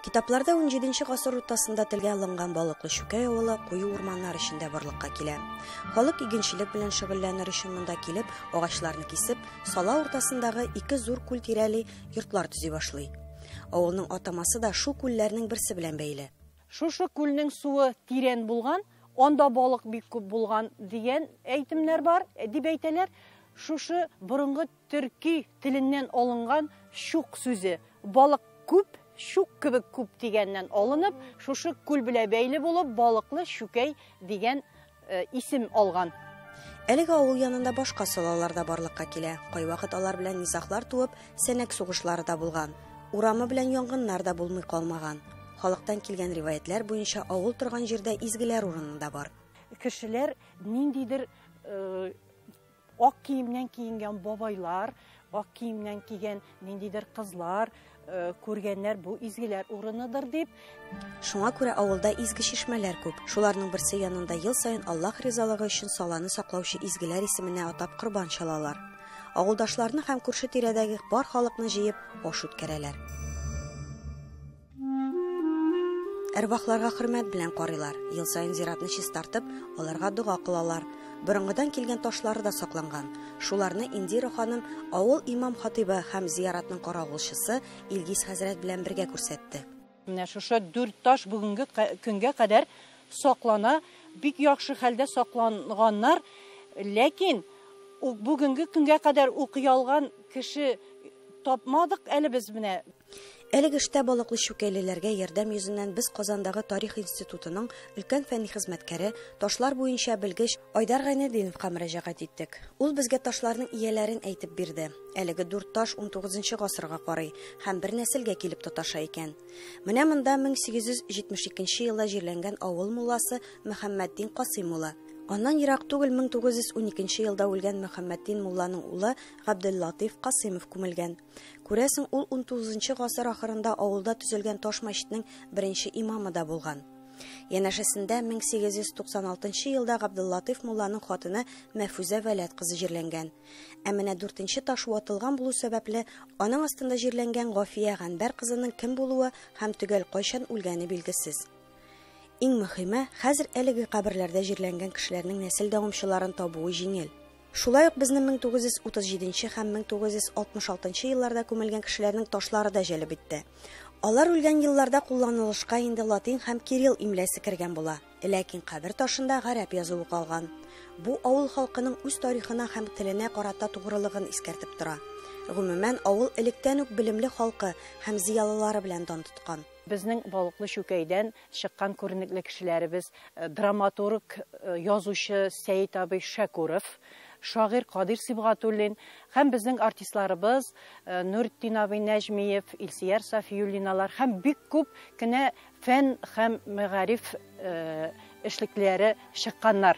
Китапларда 17 гасыр уртасында телгә алынган балыклы шүкәй авылы куе урманнар эчендә барлыкка килә. Халык игенчелек белән шөгыльләнер өчен монда килеп, агачларны кисеп, сала уртасындагы ике зур күл тирәли йортлар төзи башлый. Авылның атамасы да шу күлләрнең берсе белән бәйле. Шушы күлнең суы тирән булган, анда балык бик күп булган дигән әйтемнәр бар, дип әйтәләр. Шушы борынгы төрки теленнән алынган чук сүзе, балык күп, чук кебек күп дигәннән алынып, шушы күл белә бәйле булып, балыклы чүкәй дигән э, исем алган. Әлеге авыл янында башка солалар да барлыкка килә. Кайвакыт алар белән низахлар туып, сәнәк сугышлары да булган. Урамы белән янгыннар да булмый калмаган. Халыктан килгән риваятьләр буенча авыл торган җирдә изгеләр урыны да бар. Кешеләр ниндидер э, Ак киемнән киенгән бабайлар, ак киемнән кигән ниндидер кызлар, э, күргәннәр бу изгеләр урыныдыр дип. Шуңа күрә авылда изге чишмәләр күп. Шуларның берсе янында ел саен Аллаһ ризалыгы өчен саланы саклаучы изгеләр исеменә атап корбан чалалар. Авылдашларны һәм күрше тирәдәге бар халыкны җыеп аш үткәрәләр. Әрвахларга хөрмәт белән карыйлар. Ел саен зиратны чистартып, аларга дога кылалар. Борынгыдан килгән ташлары да сакланган. Шуларны Индира ханым авыл имам-хатыйбы һәм зияратның каравылчысы Илгиз хәзрәт белән бергә күрсәтте. Менә шушы дүрт таш бүгенге көнгә кадәр саклана. Бик яхшы хәлдә сакланганнар. Ләкин бүгенге көнгә кадәр укый алган кеше тапмадык әле без менә. Әлеге эштә балыклы чүкәйлеләргә ярдәм йөзеннән без Казандагы Тарих институтының өлкән фәнни хезмәткәре, ташлар буенча белгеч Айдар Гайнетдиновка мөрәҗәгать иттек. Ул безгә ташларның ияләрен әйтеп бирде. Әлеге дүрт таш 19 гасырга карый һәм бер нәселгә килеп тоташа икән. Менә монда 1872 елда җирләнгән авыл мулласы Мөхәммәтдин Касыйм улы. Аннан ерак түгел 1912 елда үлгән Мөхәммәтдин мулланың улы Габделлатыйф Касыймов күмелгән. Күрәсең, ул унтугызынчы гасыр ахырында авылда төзелгән таш мәчетнең беренче имамы да булган. Янәшәсендә 1896 елда Габдуллатыйф мулланың хатыны Мәфүзә Вәләт кызы җирләнгән. Ә менә дүртенче таш ватылган булу сәбәпле, аның астында җирләнгән Гафия Гәнбәр кызының кем булуы һәм төгәл кайчан үлгәне билгесез. Иң мөһиме, хәзер әлеге каберләрдә җирләнгән кешеләрнең нәсел дәвамчыларын табуы җиңел. Шулай ук безне 1937 нче һәм 1966 нчы елларда күмелгән кешеләрнең ташлары да җәлеп итте. Алар үлгән елларда кулланылышка инде латин һәм кирилл имлясе кергән була, ләкин кабер ташында гарәп язуы калган. Бу авыл халкының үз тарихына һәм теленә карата тугрылыгын искәртеп тора. Гомумән, авыл электән үк белемле халкы һәм зыялылары белән дан тоткан. Безнең Балыклы Чүкәйдән чыккан күренекле кешеләребез, драматург, язучы Сәет абый Шәкүров, шагыйрь Кадир Сибгатуллин һәм безнең артистларыбыз Нуретдин абый Нәҗмиев, Илсияр Сафиуллиналар һәм бик күп кенә фән һәм мәгариф эшлеклеләре чыкканнар.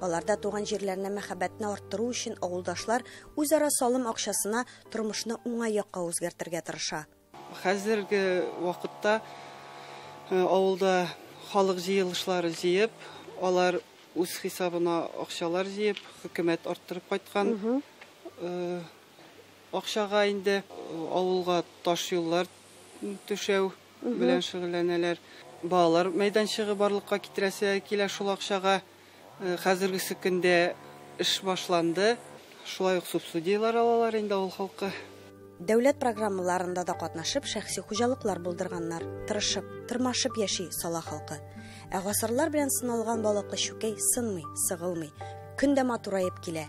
Аларда туган җирләренә мәхәббәтне арттыру өчен авылдашлар үзара салым акчасына тормышны уңай якка үзгәртергә тырыша. Хәзерге вакытта э, авылда халык җыелышлары җыеп, алар үз хисабына акчалар җыеп, хөкүмәт арттырып кайткан э, акчага инде э, авылга таш юллар түшәү, белән шөгыльләнәләр. Балалар мәйданчыгы барлыкка китерәсе килә шул акчага. Хәзергесе көндә эш башланды. Шулай ук субсудияләр алалар инде авыл халкы. Дәүләт программаларында да катнашып, шәхси хуҗалыклар булдырганнар. Тырышып, тырмашып яши сала халкы. Ә гасырлар белән сыналган балыклы чүкәй сынмый, сыгылмый. Көн дә матураеп килә.